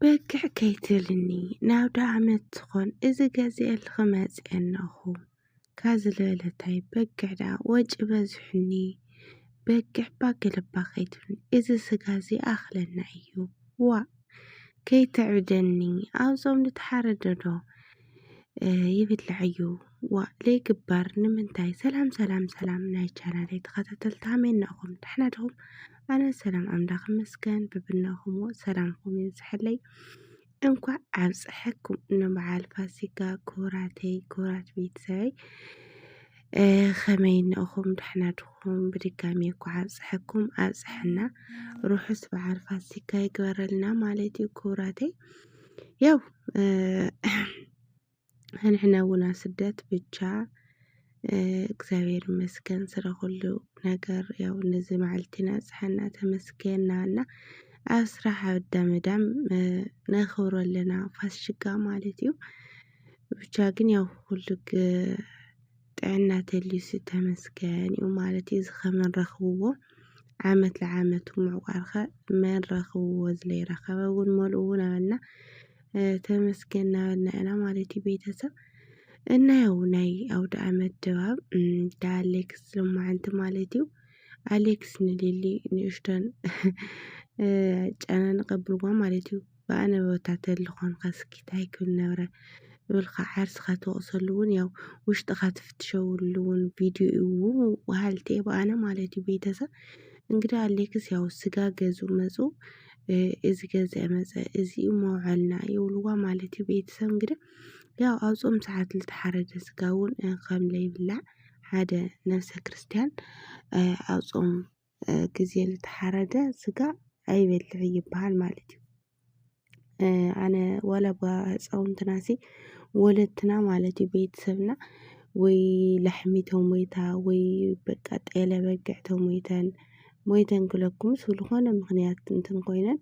በግዕ ከይትብልኒ ናብ ዳኣመት ትኾን እዚ ገዚኤልኺ መጺኤ እነኹ ካዚ ልበለ ታይ በግዕ ዳኣ ወጪ በዚሑኒ በግዕ ባገለባ ከይትብልኒ እዚ ስጋ እዚ ይኣኽለና እዩ ዋእ ከይተዕብደኒ ኣብ ጾም ድተሓረደ ዶ ይብላዕዩ ዋእ ለይግበር ንምንታይ ሰላም ሰላም ሰላም ናይ ቻናለይ ተኸታተልቲ ሃመይ እናኹም ደሕና ድኹም ኣነ ሰላም ኣምላኽ ይመስገን ብብናኹም ሰላምኩም ይብዝሐለይ እንኳዕ ኣብፀሐኩም ንበዓል ፋሲካ ክቡራተይ ክቡራት ቤተሰበይ ከመይ እነኹም ደሕና ድኹም ብድጋሚ እኳ ኣብፀሐኩም ኣብፀሐና ርሑስ በዓል ፋሲካ ይግበረልና ማለት እዩ ክቡራተይ ያው ሕንሕነ ውና ስደት ብቻ እግዚኣብሔር ይመስገን ስለ ኩሉ ነገር ያው ነዚ መዓልቲ ኣብፀሐና ተመስገና እና ኣብ ስራሕ ኣብ እንዳ መዳም ነኽብሮ ኣለና ፋሲጋ ማለት እዩ። ብቻ ግን ያው ኩሉ ጥዕና ተልዩሲ ተመስገን እዩ ማለት እዩ እዚ ከመን ረኽብዎ ዓመት ለዓመቱ ምዕቋርኸ መን ረኽብዎ ዝለይረኸበ እውን መልኡ እውን ኣበልና ተመስገን እናበልና ኢና ማለት እዩ ቤተሰብ እና ያው ናይ ኣውደ ዓመት ድባብ እንዳ ኣሌክስ ልማዓንቲ ማለት እዩ ኣሌክስ ንሊሊ ንእሽቶን ጨነን ቐብልዋ ማለት እዩ ብኣነ ቦታ ተሊ ኮንካ ስኪት ኣይክብል ነብረ እብልካ ዓርስካ ትወቅሰሉ ውን ያው ውሽጥካ ትፍትሸውሉ ውን ቪድዮ እዩ ወሃልትየ ብኣነ ማለት እዩ ቤተሰብ እንግዲህ ኣሌክስ ያው ስጋ ገዙ መፁ እዚ ገዛ መፀ እዚ መውዐልና ይብልዋ ማለት እዩ ቤተሰብ እንግዲህ ያው ኣብ ጾም ሰዓት ዝተሓረደ ስጋ ውን ከም ለይብላዕ ሓደ ነብሰ ክርስትያን ኣብ ጾም ግዜ ልተሓረደ ስጋ ኣይበልዕ ይበሃል ማለት እዩ። ኣነ ዋላ እባ ህፃውንትና ሲ ወለድና ማለት እዩ ቤተሰብና ወይ ላሕሚ ተሞይታ ወይ በቃ ጤለ በጊዕ ተሞይተን ሞይተን ክለኩምስ ብዝኾነ ምኽንያት እንትን ኮይነን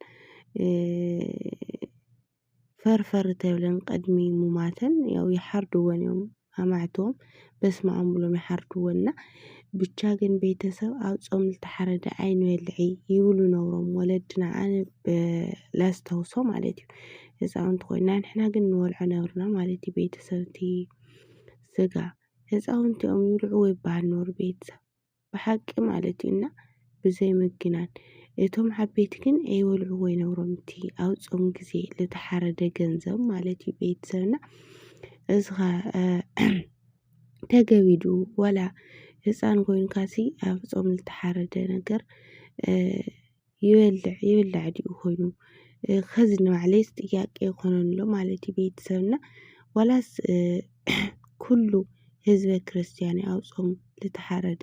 ፈርፈር ተብለን ቅድሚ ሙማተን ያው ይሓርድወን እዮም ኣማዕትቦም በስመኣም ብሎም ይሓርድወን እና ብቻ ግን ቤተሰብ ኣብ ጾም ዝተሓረደ ኣይንበልዒ ይብሉ ነብሮም ወለድና ኣነ ላስታውሶ ማለት እዩ ህፃውንቲ ኮይና ንሕና ግን ንበልዖ ነብርና ማለት እዩ ቤተሰብ እቲ ስጋ ህፃውንቲ እዮም ይብልዕዎ ይበሃል ነሩ ቤተሰብ ብሓቂ ማለት እዩ እና ብዘይ ምግናን እቶም ዓበይቲ ግን ኣይበልዕዎ ይነብሮም እቲ ኣብ ጾም ግዜ ዝተሓረደ ገንዘብ ማለት እዩ ቤተሰብና እዚ ኸ ተገቢ ድዩ ዋላ ህፃን ኮይንካሲ ኣብ ጾም ዝተሓረደ ነገር ይበልዕ ይብላዕ ድዩ ኮይኑ ከዚ ንባዕለይስ ጥያቄ ይኾኖ ኣሎ ማለት እዩ ቤተሰብና ዋላስ ኩሉ ህዝበ ክርስቲያን ኣብ ጾም ዝተሓረደ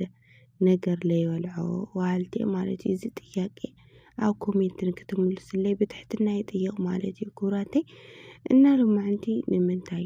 ነገር ለይበልዖ ዋልት ማለት እዩ እዚ ጥያቄ ኣብ ኮሜንት ንክትምልስለይ ብትሕትና ይጥይቕ ማለት እዩ ኩብራተይ እና ሎማዓንቲ ንምንታይ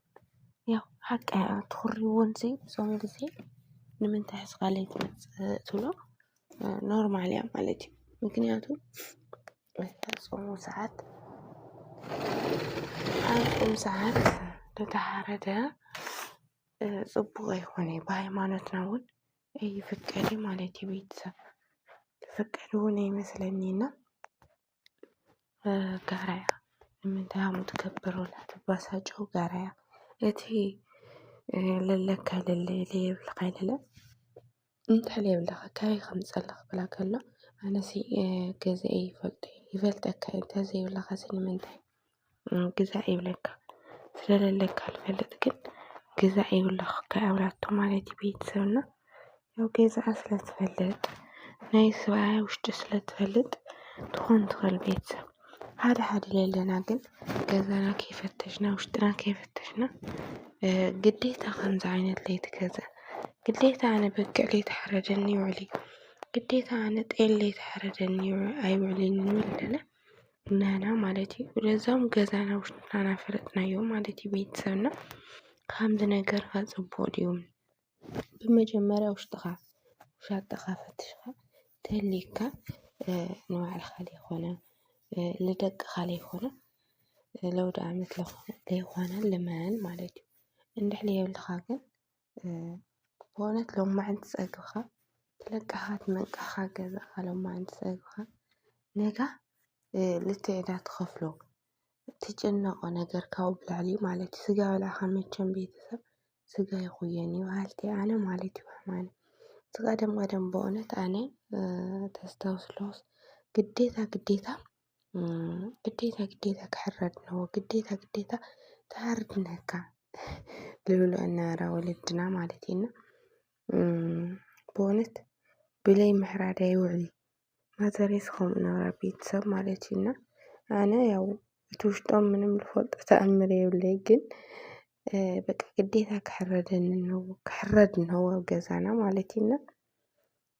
ያው ሓቂ ትኹርዎን ሲ ዞም ጊዜ ንምንታይ ሕዚ ኻል ኣይትመጽእ ትብሎ ኖርማል እያ ማለት እዩ። ምክንያቱ ጾሙ ሰዓት ኣብ ጾም ሰዓት እንተተሓረደ ጽቡቕ ኣይኾነ እዩ ብሃይማኖትና እውን ኣይፍቀድን ማለት እዩ። ቤተሰብ ዝፍቀድ እውን ኣይመስለኒ እና ጋራ እያ ንምንታይ ከምኡ ትገብር ወላ ትበሳጮ ጋራ እያ እቲ ለለካ ለለ ለየብልካ ኣይለለ እንታይ ለየብልካ ካበይ ከምዝፀለኻ ክብላ ከሎ ኣነሲ ገዛይ ይፈልጦ እዩ ይፈልጠካ እዩ እንተዘይብልኻስ ንምንታይ ግዛዕ ይብለካ ስለለካ ልፈልጥ ግን ግዛዕ ይብለኽ ከኣብላቶ ማለቲ ቤትሰብና ያው ገዛኣ ስለ ትፈልጥ ናይ ሰብኣያ ውሽጢ ስለ ትፈልጥ ትኾን ትኸል ቤትሰብ ሓደ ሓደ ለለና ግን ገዛና ከይፈተሽና ውሽጥና ከይፈተሽና ግዴታ ከምዚ ዓይነት ለይቲ ገዛእ ግዴታ ኣነ በጊዕ ለይተሓረደኒ ይውዕል እዩ ግዴታ ኣነ ጤል ለይተሓረደኒ ኣይውዕልን ንብል ኣለና። ናና ማለት እዩ ለዛም ገዛና ውሽጥና ናፈለጥናዮ ማለት እዩ ቤተሰብና ከምዚ ነገር ከ ፅቡቅ ድዩ ብመጀመርያ ውሽጥካ ውሻጠኻ ፈትሽኻ ተልዩካ ንባዕልኻ ዘይኮነ ልደቅኻ ዘይኮነ ለውዳኣመት ለይኮነ ልመን ማለት እዩ እንድሕር ዘይብልኻ ግን ብእውነት ሎማዓንቲ ፀግብኻ ለቃኻ ትመንቃኻ ገዛኻ ሎማዓንቲ ፀግብኻ ነጋ ልክዕ እዳ ትኸፍሎ ትጭነቆ ነገር ካብኡ ብላዕሊ እዩ ማለት እዩ። ስጋ በላዕኻ መቸም ቤተሰብ ስጋ ይኹየን እዩ በሃልቲ ኣነ ማለት እዩ። ሕማም ቀደም ቀደም በእውነት ኣነ ተስታውስ ኣለኹ ግዴታ ግዴታ ግዴታ ግዴታ ክሕረድ ኣለዎ ግዴታ ግዴታ ተሃረድ እንካ ዝብሎ እናበላ ወለድና ማለት እዩ። እና ብእውነት ብለይ ምሕራድ ኣይውዕል እዩ። ማዘርስ ከምኡ ነበራ ኣብ ቤተሰብ ማለት እዩ። እና ኣነ ያው እቲ ውሽጦም ምንም ልፈልጦ ተኣምር የብለይ ግን በቃ ግዴታ ክሕረደኒ ኣለዎ ክሕረድ ኣለዎ ኣብ ገዛና ማለት እዩ። እና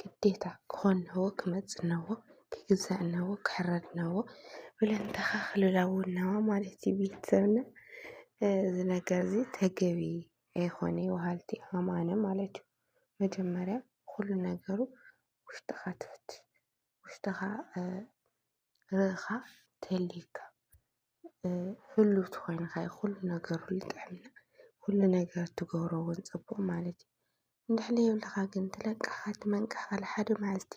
ግዴታ ክኾን እነሆ ክመፅእ እነሆ ክግዛእ እነሆ ክሕረድ እነሆ ብለን ንተኻኽለሉ እነሆ ማለት እዩ ቤተሰብና እዚ ነገር እዚ ተገቢ ኣይኾነይ በሃልቲ ኢዮም ኣነ ማለት እዩ። መጀመርያ ኩሉ ነገሩ ውሽጥኻ ትፍትሽ ውሽጥኻ ርእኻ ተልዩካ ህሉው ተኾይንኻ እዩ ኹሉ ነገር ልጥዕምና ዂሉ ነገር ትገብሮውን ጽቡቕ ማለት እዩ እንድሕር ለይብልኻ ግን ትለቅኻ ትመንቅኻ ልሓደ መዓልቲ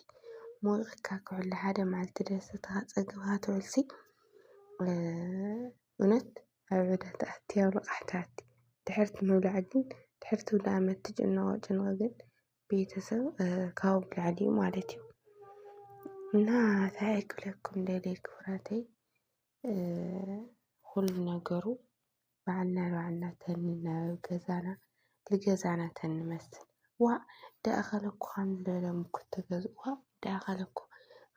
ሞይቕካ ክውዕል ልሓደ መዓልቲ ደሰትኻ ጸግብኻ ትውዕልሲ እውነት ኣብ ዕዳ ትኣቲ ኣብ ልቓሕ ትኣቲ ድሕርቲ ምብላዕ ግን ድሕርቲ ውዳእ'ያ ትጭነቖ ጭንቕ ግን ቤተሰብ ካብኡ ልዕሊ እዩ ማለት እዩ እና እንታይ ክብለኩም ደልየ ክብረተይ ኩሉ ነገሩ ባዕልና ንባዕልና ተንናበብ ገዛና ንገዛና ተንመስል ዋእ ደኣኸለ እኮ ከምዚ በለ ሙኩት ተገዝኡ ዋእ ደኣኸለ እኮ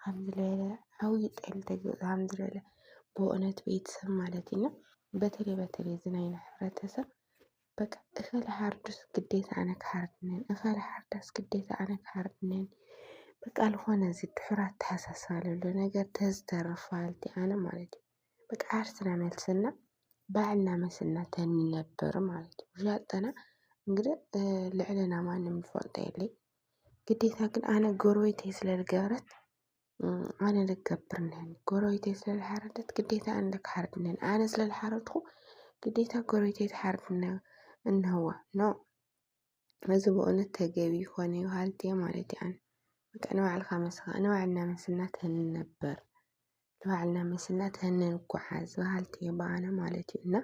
ከምዚ በለ ዓብዪ ጤል ተገዝኡ ከምዚ በለ ብእውነት ቤተሰብ ማለት እዩ እና በተለይ በተለይ እዚ ናይና ሕብረተሰብ በቃ እኸለ ሓርዱስ ግዴታ ኣነ ክሓርድንን እኸለ ሓርዳስ ግዴታ ኣነ ክሓርድንን በቃ ልኾነ እዚ ድሑር ኣተሓሳስባ ለሎ ነገር ተዝተርፍ በሃልቲ ኣነ ማለት እዩ በቃ ዓርስና መልስና ባዕልና መስልና ተንነብር ማለት እዩ ዣጠና እንግዲህ ልዕልና ማንም ዝፈልጦ የለይ ግዴታ ግን ኣነ ጎረቤተይ ስለ ዝገበረት ኣነ ልገብር ነን ጎረቤተይ ስለዝሓረደት ግዴታ ኣነ ክሓርድ ነን ኣነ ስለዝሓረድኩ ግዴታ ጎረቤተይ ትሓርድ እንሀዋ ኖ እዚ ብእውነት ተገቢ ይኾነ ይሃልት እየ ማለት እየ ኣነ በቃ ንባዕልካ መስኻ ንባዕልና መስና ተንነበር ንባዕልና መስና ተንንጓዓዝ በሃልቲ እየ በኣነ ማለት እዩ እና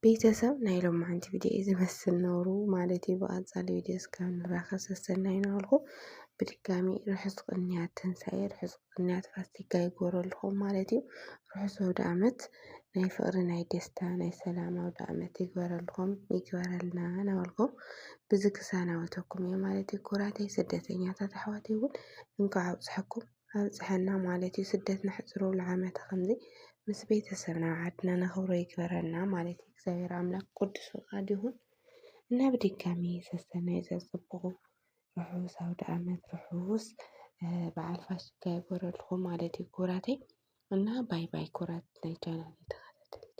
ቤተሰብ ናይ ሎማዓንቲ ቪድዮ እዩ ዝመስል ነሩ ማለት እዩ። ብቐፃሊ ቪድዮ እስካብ ንራኸብ ሰሰናዩ ናበልኩ ብድጋሚ ርሑስ ቅንያት ትንሳኤ ርሑስ ቅንያት ፋሲካ ይጎረልኹም ማለት እዩ። ርሑስ ወደ ዓመት ናይ ፍቕሪ ናይ ደስታ ናይ ሰላም ኣውደ ዓመት ይግበረልኹም ይግበረልና ናበልኩም ብዚ ክሳናወተኩም እየ ማለት እዩ። ኩራተይ ስደተኛታት ኣሕዋተይ እውን እንኳዕ ኣብፅሐኩም። ኣብፀሐና ማለት እዩ። ስደት ነሕፅሮ ለዓመተ ከምዚ ምስ ቤተሰብና ኣብ ዓድና ነኽብሮ ይግበረና ማለት እዩ። እግዚኣብሔር ኣምላክ ቅዱስ ፍቃዱ ይኹን እና ብድጋሚ ሰሰናዩ ዘፅብቁ ርሑስ ኣውደኣመት ርሑስ በዓል ፋሲካ ይግበረልኹም ማለት እዩ ክቡራተይ እና ባይ ባይ ክቡራት ናይ ቻናል ተኸታተልቲ